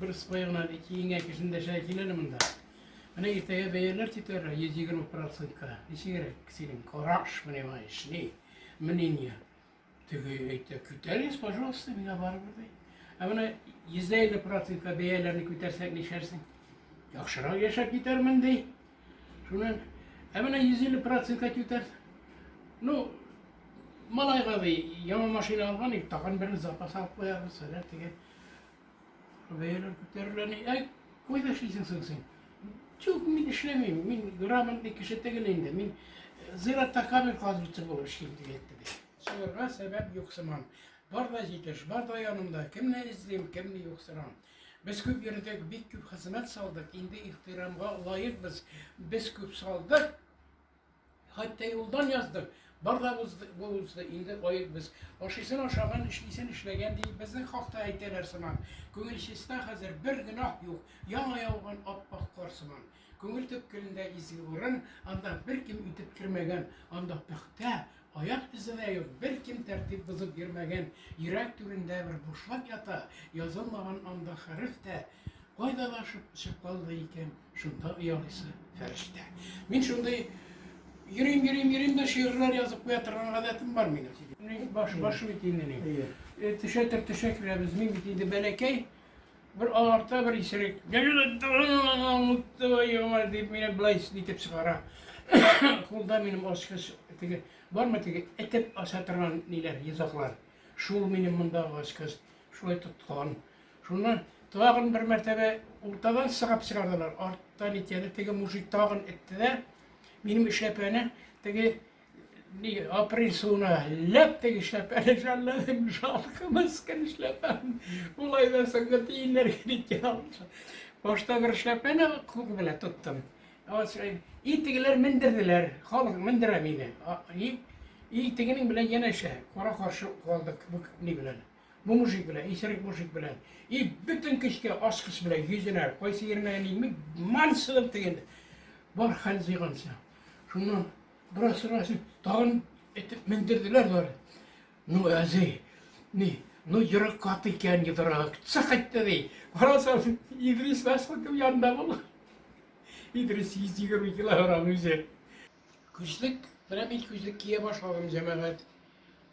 Бер сыпая гына киенгән кешене дәшә килер монда. Менә иртәгә бәяләр титәр 120 процентка. Ничегрәк синең караш, понимаешь, ни? Мнение. Теге әйтә, күтәрегез, пожалуйста, миңа барыбер ди. Ә менә 150 процентка бәяләрне күтәрсәк нишәрсең? Яхшырак яшәп китәрмен ди. Шуннан, ә менә 150 процент кать үтәр. Ну, малайга да яңа машина алган ик, тагын бер запас алып куярбыз, әллә теге бәяләр күтәрелә ни. Ә кайда эшлисең соң син? Чук, мин эшләмим, мин грамотный кеше түгел инде, мин э, зиратта камер казучы булып эшлим дип әйтте бит. Шуларга сәбәп юк сыман. Бар да җитеш, бар да янымда, кемне эзлим, кемне юк сырам. Без күп йөрдек, бик күп хезмәт салдык, инде ихтирамга лаекбыз. Без күп салдык, хәтта юлдан яздык. Бар да булды, инде лаекбыз. Ашыйсын ашаган, эшлисен эшләгән дип безнең хакта әйтәләр сыман. Күңел чиста хәзер, бер гөнаһ юк, яңа яуган аппак кар сыман. Күңел төпкелендә изге урын, анда беркем үтеп кермәгән, анда пөхтә, аяк эзенә юк, беркем тәртип бозып йөрмәгән, йөрәк түрендә бер бушлык ята, язылмаган анда хәреф тә, кайда да чыккалды икән, шунда оялыйсы фәрештә. Мин шундый йөрим, йөрим, йөрим дә шигырьләр язып куя торган гадәтем бар минем. Баш, баш бит инде мин. Төшә төр төшә керәбез. Мин бит инде бәләкәй, Бер аларта, бер исерек. Дип мине былай итеп чыгара. Кулда минем ачкыч теге бармы теге этеп аша торган ниләр, йозаклар. Шул минем монда ачкыч шулай тоткан. Шуннан тагын бер мәртәбә уртадан сыгып чыгардылар. Арттан итәде теге мужик тагын этте дә минем эшләпәне теге Ни, апрель суына ләп теге эшләпәне жәлләдем, жалко, мескен эшләпәм. Улай да соңгы тиеннәргә киткән алды. Башта бер эшләпәне кулы белән тоттым. И тегеләр мендерделәр, халык мендерә мине. И, и тегенең белән янәшә, кара каршы калдык бу ни белән. Бу мужик белән, исерек мужик белән. И бөтен көчкә аскыс белән йөзенә, кайсы ерына янымны мансылып тегенде. Бар хәл җыйганча. Шуннан бераз сорасың, тагын итеп мендерделәр бар. Ну, әзи, ни, ну, йөрәк каты икән йодрак. Сак итте ди. Барасам, Идрис Мәсхутов янында булды. Идрис 120 килограмм үзе. Күзлек, менә мин күзлек кия башладым, җәмәгать.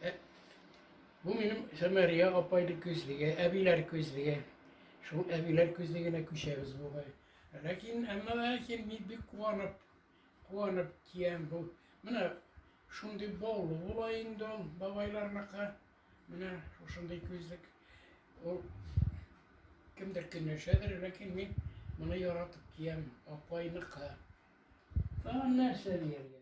Э, бу минем Сәмәрия апайды күзлеге, әбиләр күзлеге. Шул әбиләр күзлегенә күчәбез бугай. Ләкин, әмма ләкин мин бик куанып, куанып киям бу. Менә шундый баулы була инде ул бабайларныкы. Менә шушындый күзлек. Ул кемдер көнләшәдер, ләкин мин моны яратып киям, апайныкы. Тагын нәрсә дияргә?